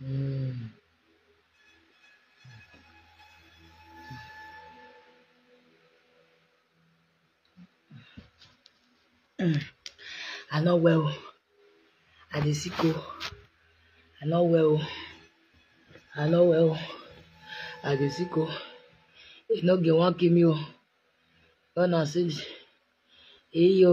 mm mm I no well o, I dey sick o, I no well o, I no well o, I dey sick o, e no get wan kill me o, run am see me, eyo.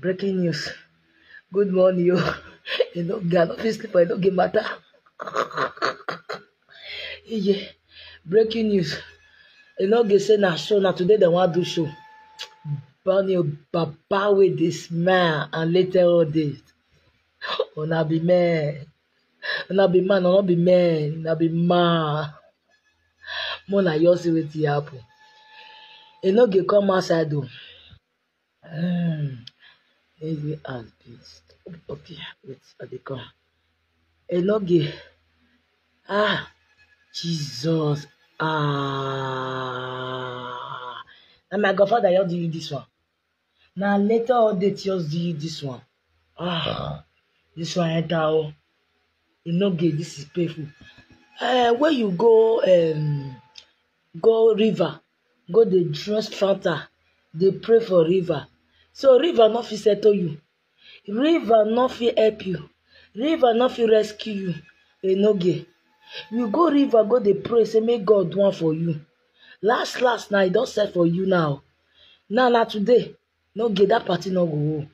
Breaking news. Good morning, yo. You know, girl, no fit sleep, I no get matter. yeah. Breaking news. You know, they say na show, na today they want do show. Bunny Baba with the smile and later all this. Una be man. Una be man, una be man, una be man. More na yours with the apple. You know, they come outside though. Um, heavy as beast. Okay, wait, I dey come. Eloge. Ah, Jesus. Ah. Na my godfather just do you this one. Na later all day just do you this one. Ah, this one enter oh. You no get this is painful. Uh, where you go um go river go dey draw strata dey pray for river so river no fit settle you river no fit help you river no fit rescue you enoge you go river go dey pray say make God do am for you last last na e don set for you now now na today no gay that party no go hold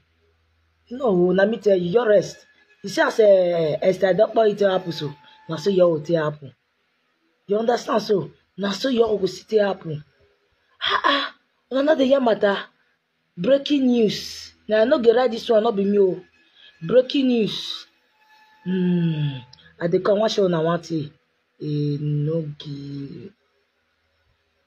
no hold na me tell you just rest you see as uh, esther dokpo e take happen so na so your own take happen you understand so na so your own go still take happen ah ah una no dey hear matter breaking news na i no go write this one no be me o breaking news mm, i dey come wan show una one thing e no give.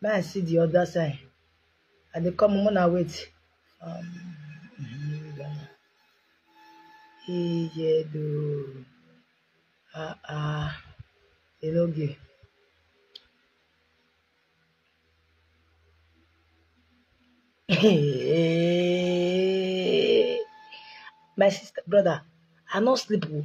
May I see the other side. I dey come una wait. Um, Ijedo. Ah ah. They no give. My sister, brother, I no sleep. oh.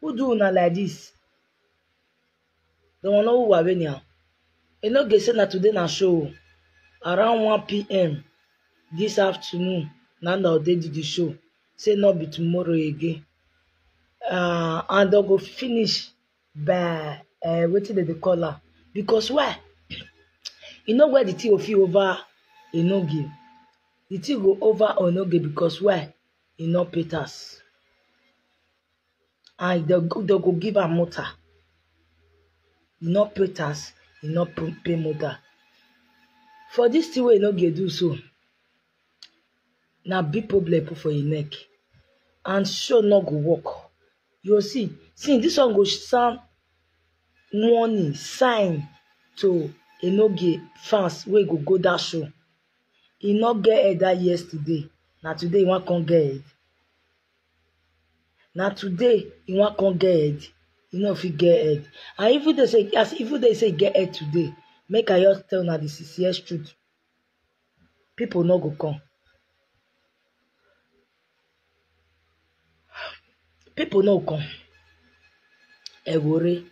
Who do una like this? The one who were winning. am. E no get say na today na show. o. Around 1 p.m. this afternoon, na na dey do the show. Say no be tomorrow again. Uh, and dem go finish by uh, wetin dem dey call am. Because why? You know where the thing go fit over Enoge. The thing go over Enoge because why? E no pay tax. and dem go dem go give am mota e no pay tax e no pay mota for dis tin wey e no dey do so na big problem put for him neck and show no go work you go see see dis one go sound warning sign to enoge fans wey go go dat show e no get head dat yesterday na today e wan come get head na today e wan come get head e no fit get head and even though say as even though say e get head today make i just tell una the sincere truth people no go come people no go come ewore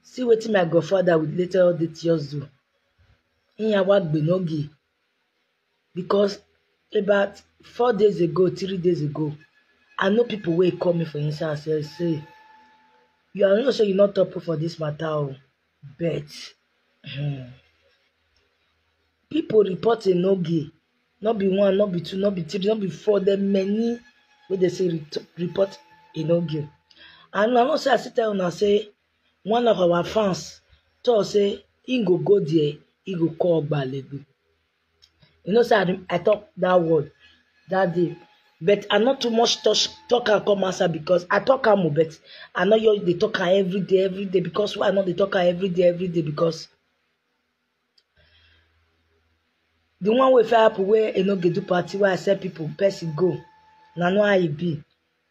see wetin my godfather with later all the tears do iyan wa gbenogi because about four days ago three days ago i know people wey call me for inside and say say you are not sure you not talk for this matter o but hmm, people report enoge not be one not be two not be three not be four there many wey dey say report enoge and i know say i still tell una say one of our fans talk say he go go there he go call gbalego You know say I talk that word that day but I not too much touch talk am come outside because I talk am o but I no just dey talk am every day every day because why I no dey talk am every day every day because the one wey fit happen wey e no go do party wey I sell people person go na know how e be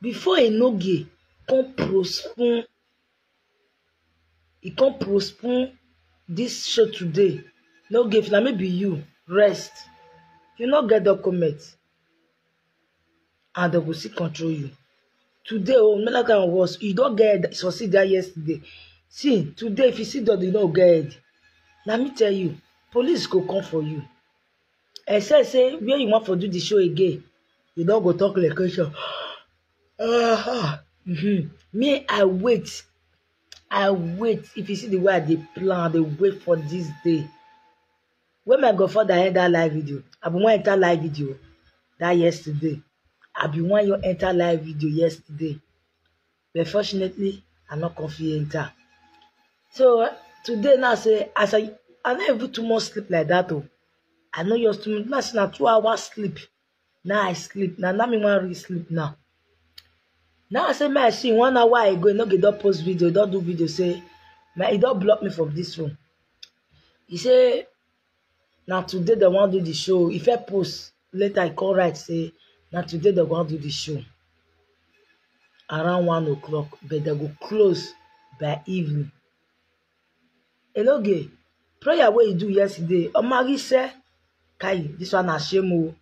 Before e no ge kon prospun e kon prospun dis show today no ge if na me be you rest you no get document and dem go still control you today o no matter how worse you don get head succeed dat yesterday see today if you see God you no go get head na me tell you police go come for you except say where you wan for do the show again you no go talk location uh, mm-hmm. me i wait i wait if you see the way i dey plan i dey wait for this day when my godfather end that live video i bin wan enter live video that yesterday i bin wan enter live video yesterday but fortunately i no come fit enter so today now say as i i no even too much sleep like that o i no just too much now say na two hours sleep now i sleep now now me wan really sleep now now i say make i see one hour ago e no go don post video e don do video say my e don block me from this room e say na today dem wan do the show ife post later e come write say na today dem wan do the show around one o'clock but dem go close by evening eloge prayer wey you do yesterday omarise kai this one na shame o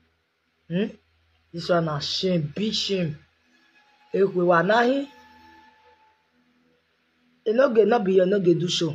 hmm? this one na shame big shame ekwe wanahi eloge no be your no dey do show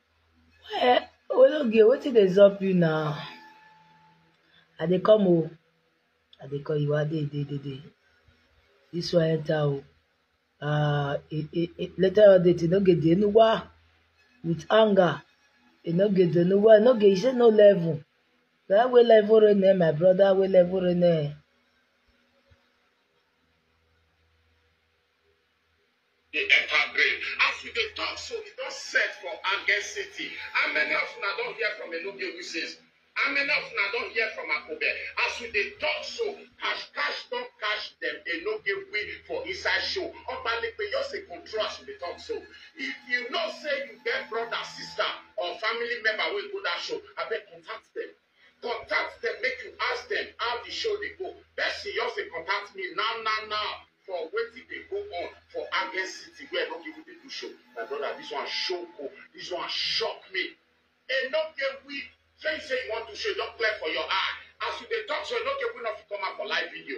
Eh, Ologe, wetin dey sup you now? I dey come o. I dey call you, I dey, dey, dey, dey. This one enter o. Uh, e, e, e, later on date, e no get the Enuwa with anger. E no get the Enuwa, e no get, e say no level. That way level rain eh, my brother, way level rain eh. He enter grave. As we dey talk so, e don set for Agen City. How many of una don hear from Enugu since? How many of una don hear from Akobe? As we dey talk so, cash cash don cash dem Enugu for inside show. Obalegbe just dey control as we dey talk so. If you know say you get brother, sister or family member wey go that show, abeg contact dem. Contact dem make you ask dem how the show dey go. Person just dey contact me now now now for wetin dey go on for Agen City where I no even dey do show. My brother, this one shock o, this one shock me. E no get we say you say you wan do show, e don clear for your eye. As you dey talk so, e no get we no fit come out for live video.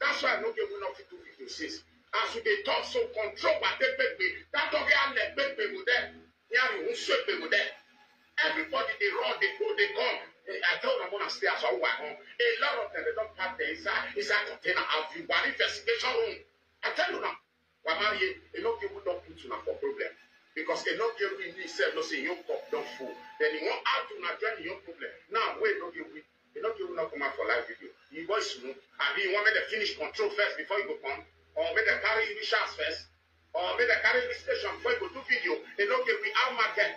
That's why I no get even nothing to video since. As we dey talk so control wa take make me that talk ya let make me go there. Ya me who sweep me go there. Everybody dey run, dey go, dey come. Eh, I tell them when I stay as I walk home. A lot of them they don't pack the inside inside container. I've been one investigation room. I tell you now. Wamarie, e no get who don put una for problem because e no get win me sef no say im own cup don full then e wan add to una join im own problem now wey e no get win e no get who no come out for live video im voice smooth abi you wan make dem finish control first before you go come or make dem carry you reach house first or make dem carry you reach station before you go do video e no get win how market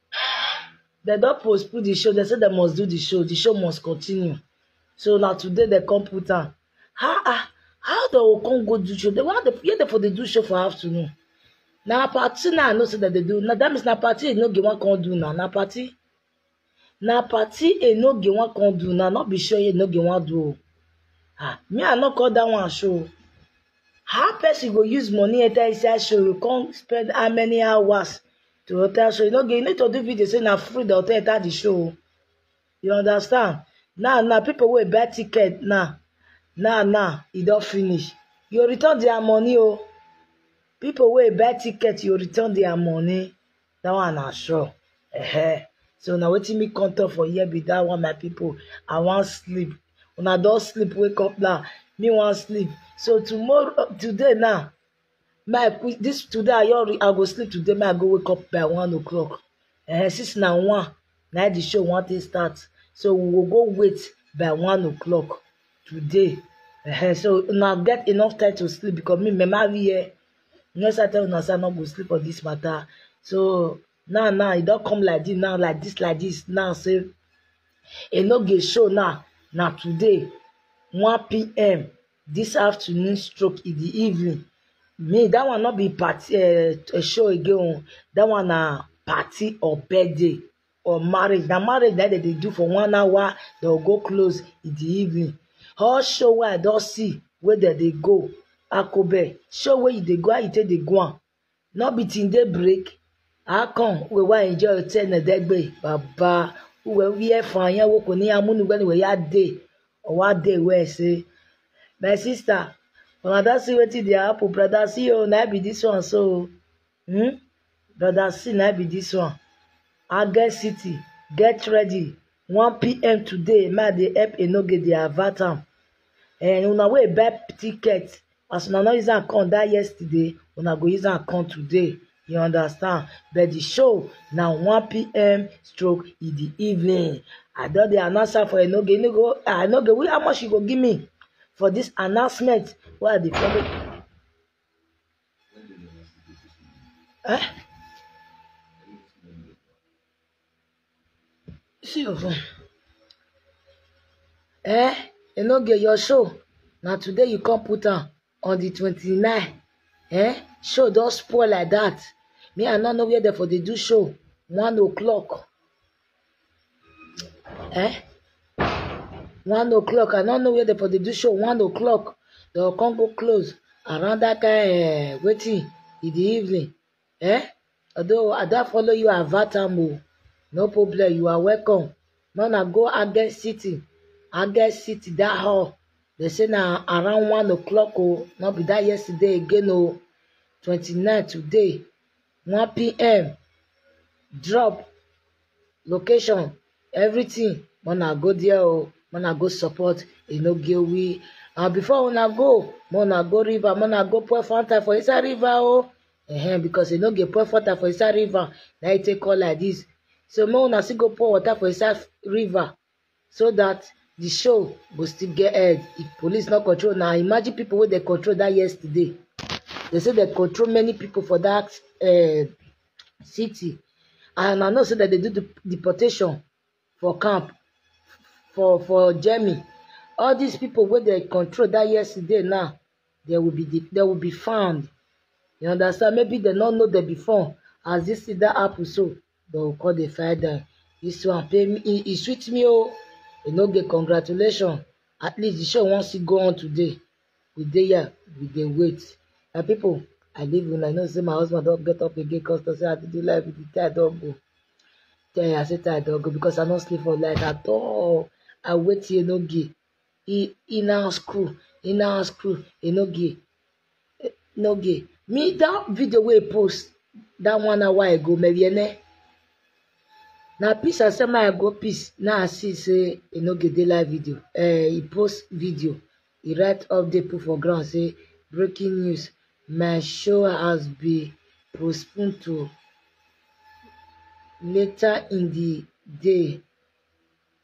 dem don postpone the show dem say dem must do the show the show must continue so na today dem come put am ah ah how dem go come go do show dem why dem where dem for dey do show for afternoon na party na i know say dem dey do na that means na party enoge wan come do na na party na party enoge wan come do na no be show enoge wan do o ah me i no call that one show o how person go use money enter inside show come spend how many hours to hotel show you no get you need to do video say na free the hotel enter the show o you understand now now people wey buy ticket now now now e don finish you go return their money o people wey buy ticket you go return their money that one na sure uh-huh. so na wetin me come talk for here be that one my people i wan sleep una don sleep wake up now me wan sleep so tomorrow today now my this today i your i go sleep today my i go wake up by one o'clock uh, since na one na the show wan take start so we will go wait by one o'clock today uh, so now get enough time to sleep because me mama we here you know say i tell una say i no go sleep on this matter so now now e don come like this now like this like this now say e no go show now na today one pm this afternoon stroke in the evening me that one no be party uh, show again that one na party or birthday or marriage na marriage na dem dey do for one hour dem go go close in the evening all show wey i don see wey dem dey go akobe show wey you dey go how you take dey go am No be till day break, how come we wan enjoy otene degbe baba uwe where for yan wo ko ni amunu when we ya dey or one day where say my sister una don see wetin dey happen brother see o na be this one so hmm brother see na be this one Agge City get ready 1pm today ma dey help enoge dey avert am and una wey buy ticket as una no use am come that yesterday una go use am come today you understand but the show na 1pm stroke in the evening i don dey announce am for enoge enoge ah enoge wey how much you go give me for this announcement wey i dey follow eh See of am. Eh, you no get your show. Na today you come put am on the twenty-nine. Eh, show don spoil like that. Me, I no know where dem for dey do show. One o'clock. Eh, one o'clock. I no know where dem for dey do show. One o'clock. Dem go come go close around that kind uh, wetin in the evening. Eh? Although I don't follow you avert am o. No problem, you are welcome. Now na go Agge City. Agge City that hall. They say na around one o'clock o. No be that yesterday again o. 29 today. 1 p.m. Drop location, everything. Mona go there o. Mona go support Inogewi. And before una go, mona go river, mona go pour Fanta for inside river o. eh because e no get pour water for inside river na e take call like this so make una still go pour water for inside river so that the show go still get head if police no control na imagine people wey dey control that yesterday they say they control many people for that uh, city and i know say that they do the deportation for camp for for germany all these people wey dey control that yesterday now they will be the, they will be found you understand maybe they no know them before as this thing that happen so they will call the find them this one pay me e e sweet me oh. e no get congratulation at least the show wan still go on today we dey here we dey wait my people i leave una i know say my husband don get up again cause to say i dey do life with the tie don go tell you i say tie don go because i no sleep for night at all i wait here no give e e now screw e now screw e no gay no gay me that video wey post that one hour ago meriene na peace i say make i go peace now i see say e no gay dey live video eh e post video e write update put for ground say breaking news my show has been postponed to later in the day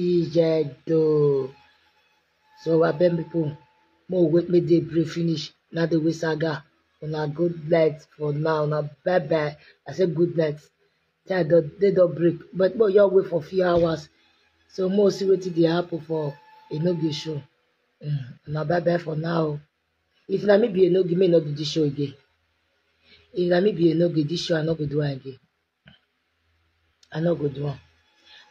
Ijedo. So I beg people, more wait me dey brief finish. Now the way saga. Una good night for now. Now bye bye. I say good night. Tell the they don't break. But more y'all wait for few hours. So more see what they happen for a no be show. Mm. Now bye bye for now. If na me be a no give me no do this show again. If na me be a no give this show, I no go do am again. I no go do am.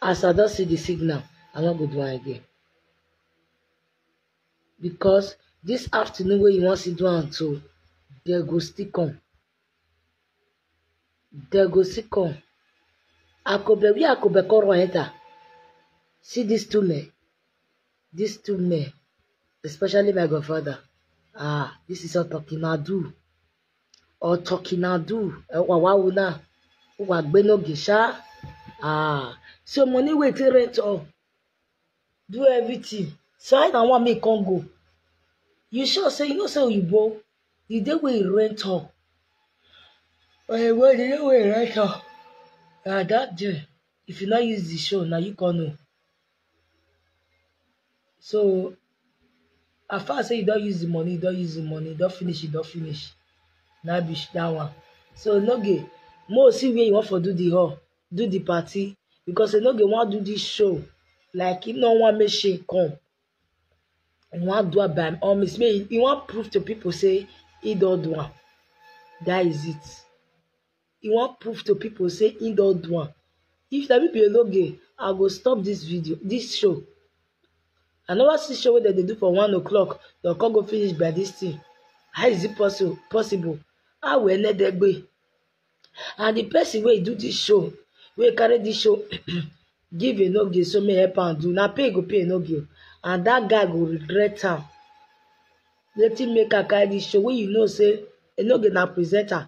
As I don see the signal, I no go do am again. Because this afternoon wey you wan see do am so, they go still come. They go still come. Akobe, where Akobe come run enter? See these two men. These two men, especially my godfather. Ah, this is not talking. Now do. ọtọkinadu wawa una wa gbe no gi sha ah so money wey take rent all do everything so i na wan make come go you sure say you know say oyibo the day wey you rent all oyibo the day wey you rent all na that day if you no use the show na you come know So as far as sey you don use di money, you don use di money, you don finish, you don finish na be dat one. So no dey make we see where you wan for do di hall, do di party because you no go wan do dis show like you no wan make shame come, you wan do am by all means, make you wan prove to pipu sey you don do am, dat is it. e wan prove to pipo say e don do am if na me be ologe I go stop dis video dis show I never see show wey dem dey do for one o'clock dem come go finish by dis thing how is it possible possible how will eledegbe and the person wey do dis show wey carry dis show give enoge so make help am do na pay e go pay enoge and that guy go regret am wetin make am carry dis show wey you know say enoge na presenter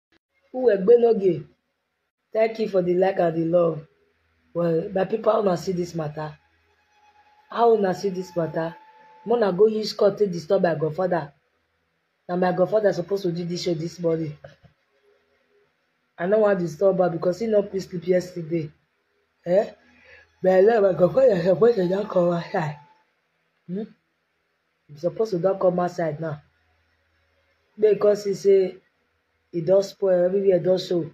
Uwegbenoge, thank you for the like and the love. Well, my people, how una see this matter? How una see this matter? Mona go use court to disturb my godfather. Now my godfather supposed to do this show this morning. I no wan disturb her because he no fit sleep yesterday. Eh? But I love my godfather suppose to don come outside. Hmm? You suppose to don come outside now. Make you come see say e don spoil, everywhere don show.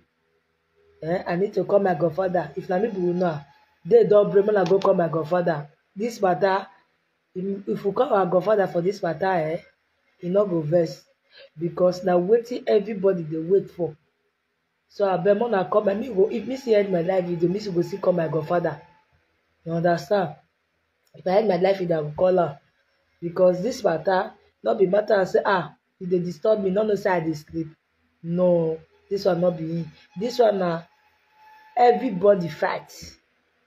Eh, I need to call my godfather. If na me be una, day don break, make una go call my godfather. This matter, if if we call our godfather for this matter, eh, e no go vex because na wetin everybody dey wait for. So abeg make una come me go if me still end my life video, me still go still call my godfather. You understand? If I end my life video, I go call am because this matter no be matter I say ah e dey disturb me, no know say I dey sleep. No, this one no be me. This one na everybody fight.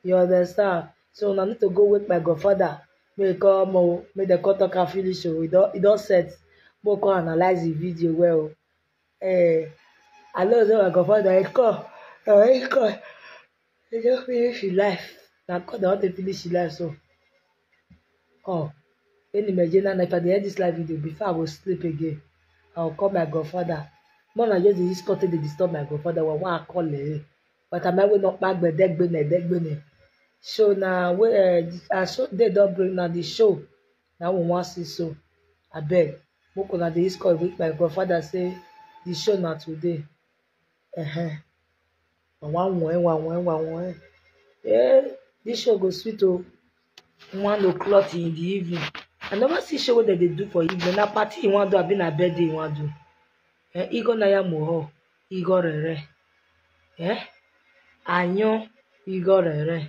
You understand? So una need to go wake my godfather make e come o make dem come talk am finish o e don e don set make we come analyse the video well o Eh, I know say my confirm na him call, na him call. He just finish his life. Na God na wan take finish his life so. Oh, any Nigerian na if I dey end this live video before I go sleep again, I go call my godfather. More na just dey use call take dey disturb my godfather wa wa call eh. But am I wey no kpa gbedegbene degbene. So na wey uh, as so day don break na the show na we wan see so abeg make una dey use call with my godfather say the show na today uh-huh. wa wen wa wen wa wen eh this show go sweet o one o'clock in the evening i never see show wey dem dey do for evening na party you wan do abi na birthday you wan do eh igo naya moho igo rere eh anyo igo rere.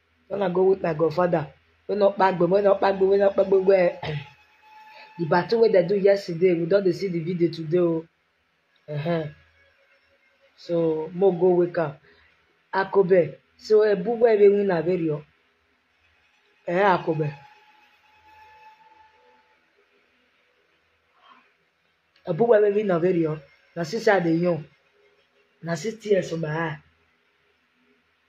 When I go with my godfather, wey no kpagbe, wey no kpagbe, wey no kpagbe, wey the battle wey dem do yesterday, we don dey see the video today o. Uh-huh. So, mo go wake am. Akobe, so ebu wey we win na very o. Eh, Akobe. Ebu wey we win na very o. Na since I dey young. Na see tears for my eye.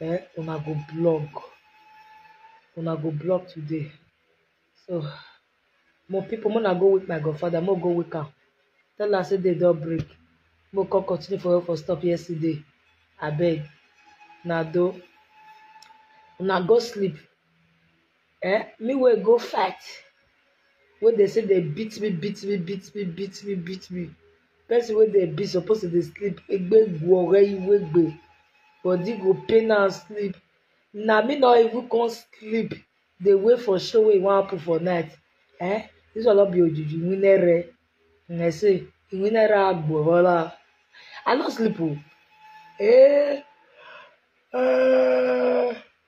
um una go blog una go blog today so more people make una go wake my godfather make we go wake am tell am say day don break make we come continue for where we for stop yesterday abeg una do una go sleep Eh, me wey go fight, wey dey say dey beat me, beat me, beat me, beat me, beat me. Person wey dey beat suppose to dey sleep, egbegwu ore iwegbe. Body go pain am sleep. Na me no even come sleep dey wait for show wey e wan happen for night. Eh, this one no be ojuju winere. Una say winere agboola. I no sleep o. Eh, eh.